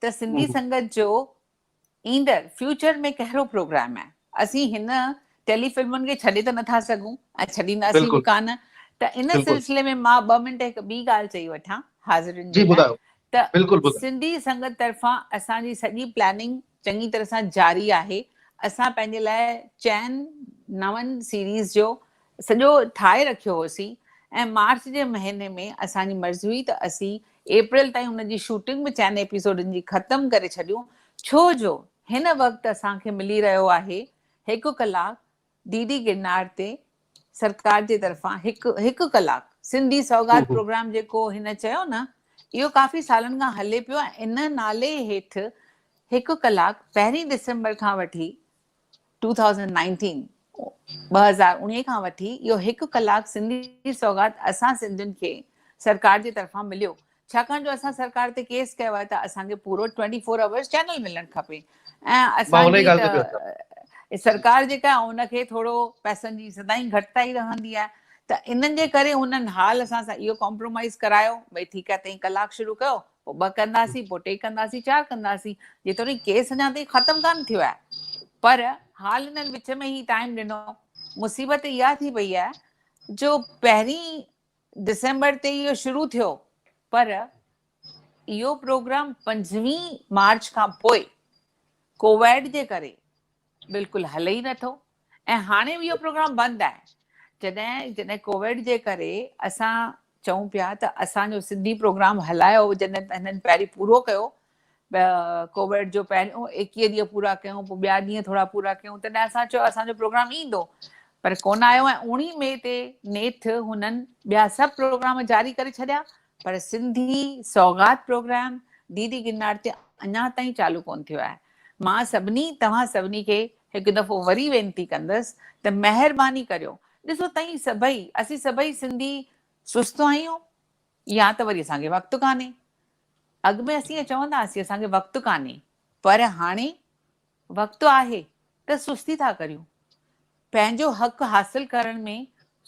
ته سنڌي سنگت جو ايندڙ فيوچر ۾ ڪهڙو پروگرام آهي اسين هن ٽيلي فلمن کي ڇڏي ته نٿا سگهون ۽ ڇڏينداسين به ڪانه ته ان سلسلي ۾ مان ٻه منٽ هڪ ٻي ڳالهه چئي وٺان حاضرين جي لاء ته سنڌي سنگت طرفان اسان جي سڄي پلاننگ چڱي طرح سان جاري آهي اسان پنهنجي لاء چئن نون سيريز جو سڄو ٺاهي رکيو هوسين ۽ مارچ جي مهيني ۾ اسان جي مرضي هئي ته اسين اپريل تائين ان جي شوٽنگ به چئن ايپيسوڊن جي ختم ڪري ڇڏيون ڇو جو هن وقت اسان کي ملي رهيو آهي هڪ ڪلاڪ ڊي ڊي گرناڙ تي سرڪار جي طرفان هڪ هڪ ڪلاڪ سنڌي سوغات پروگرام جيڪو هن چيو نه اهو ڪافي سالن کان هلي پيو ان نالي هيٺ هڪ ڪلاڪ پهرين ڊسمبر کان وٺي 2019 ٻه هزار اڻيهه کان وٺي اهو هڪ ڪلاڪ سنڌي سوغات اسان سنڌين کي سرڪار جي طرفان مليو ڇاڪاڻ جو اسان سرڪار تي ڪيس ڪيو آهي ته اسان کي پورو ٽوئنٽي فور آورس چينل ملڻ کپي ۽ اسان جي ته سرڪار جيڪا آهي ان کي ٿورو پئسن جي سدائين گهٽتائي رهندي آهي ته انهن جي ڪري انهن حال اسان سان اهو ڪامپرومائز ڪرايو ڀئي ٺيڪ آهي تئين ڪلاڪ شروع ڪيو پوء ٻه ڪنداسين پوء ٽي ڪنداسين چار ڪنداسين جيتوڻيڪ ڪيس اڃا تائين ختم ڪانه ٿيو آهي پر حال انهن وچ ۾ هي ٽائيم ڏنو مصيبت اها ٿي پئي آهي جو پهرين ڊسمبر تي اهو شروع ٿيو پر اهو پروگرام پنجويهه مارچ کان پوء ڪوويڊ جي ڪري بلڪل هلي ئي نٿو ۽ هاڻي به اهو پروگرام بند آهي جڏهن جڏهن ڪوويڊ جي ڪري اسان چئون پيا ته اسان جو سنڌي پروگرام هلايو جڏهن هنن پهرين پورو ڪيو ڪوويڊ جو پهريون ايڪيهه ڏينهن پورا ڪيون پوء ٻيا ڏينهن ٿورا پورا ڪيون تڏهن اسان چيو اسان جو پروگرام ايندو پر ڪونه آيو ۽ اوڻي مئي تي نيٺ هنن ٻيا سڀ پروگرام جاري ڪري ڇڏيا پر Sindhi Saughat programme D D Girnar تي اڃا تائين چالو ڪون ٿيو آهي مان سڀني توهان سڀني کي هڪ دفعو وري وينتي ڪندس ته مهرباني ڪريو ڏسو تائين سڀئي اسين سڀئي سنڌي سست آهيون يا ته وري اسان کي وقت ڪانهي اڳ ۾ اسين ائين چوندا هئاسين اسان کي وقت ڪانهي پر هاڻي وقت آهي ته سستي ٿا ڪريون. پنهنجو حق حاصل ڪرڻ ۾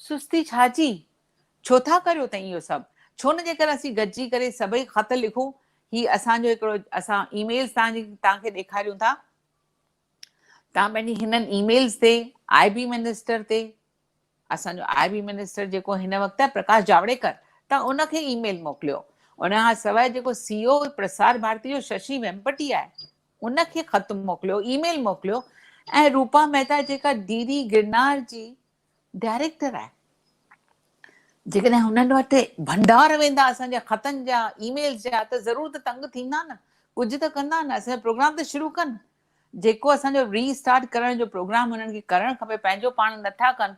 سستي ڇا جي؟ ڇو ٿا ڪريو تئين اهو سڀ؟ ڇو نه جيڪر اسين گڏجي ڪري سڀئي خط لکون، هي اسان جو هڪڙو اسان اي ميلز توهان کي ڏيکاريون ٿا. توهان پنهنجي هنن اي ميلز تي آء بي منسٽر تي اسان جو آء بي منسٽر جيڪو هن وقت آهي پرڪاش جاوڙيڪر توهان ان کي اي ميل موڪليو ان کان سواء جيڪو سي او پرسار ڀارتي جو ششي ويمپٽي آهي ان کي خط موڪليو اي ميل موڪليو ۽ روپا مهتا جيڪا ڊي ڊي گرنار جي ڊائريڪٽر آهي جيڪڏهن هنن وٽ ڀنڊار ويندا اسان جا خطن جا اي ميلز جا ته ضرور ته تنگ ٿيندا نه ڪجهه ته ڪندا نه اسان جو پروگرام ته شروع ڪن جيڪو اسان جو ري اسٽارٽ ڪرڻ جو پروگرام هنن کي ڪرڻ کپي پنهنجو پاڻ نٿا ڪن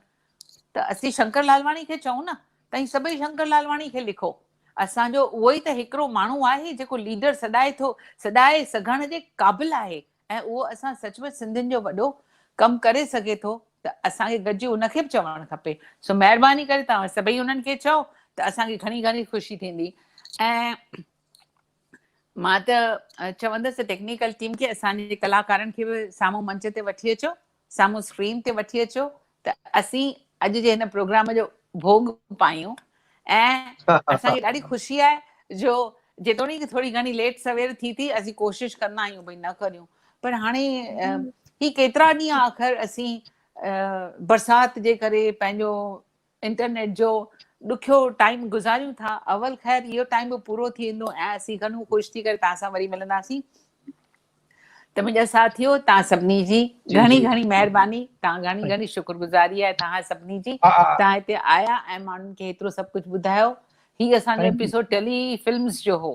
ته اسين شنڪر لالواڻي کي چئون نه تائين سڀئي شنڪر لالواڻي کي لکو اسان جو اهو ئي ته هڪڙو ماڻهو آهي جيڪو ليڊر سڏائي ٿو سڏائي سگهڻ جي قابل آهي ۽ اهو اسان سچ پچ سنڌين جو وڏو ڪم ڪري سگهي ٿو ته اسان کي گڏجي ان کي به چوڻ کپي سو مهرباني ڪري توهان سڀئي انهن کي چئو ته اسان کي گهڻي گهڻي خوشي ٿيندي ۽ مان ته چوندس ته ٽيڪنيڪل ٽيم کي اسان جي ڪلاڪارن کي به سامهون منچ تي وٺي اچو سامهون اسڪرين تي وٺي اچو ته اسين اڄ جي هن پروگرام جو ڀوڳ پايون ۽ اسان کي ڏاڍي خوشي آهي جو جيتوڻيڪ ٿوري گهڻي ليٽ سوير ٿي ٿي اسين ڪوشش ڪندا آهيون ڀئي نه ڪريون پر هاڻي هي ڪيترا ڏينهن آخر اسين برسات جي ڪري پنهنجو انٽرنيٽ جو ڏکيو ٽائيم گذاريون ٿا اول خير اهو ٽائيم به پورو ٿي ويندو ۽ اسين گهڻو خوش ٿي ڪري توهان سان وري ملنداسين ته منهنجا ساٿيو توهان سڀني جي گهڻي گهڻي مهرباني توهان گهڻي گهڻي شڪر گذاري آهي توهان سڀني جي توهان هتي آيا ۽ ماڻهن کي هيترو سڀ ڪجهه ٻڌايو هي اسان جو ايپيسوڊ ٽيلي فلمز جو هو.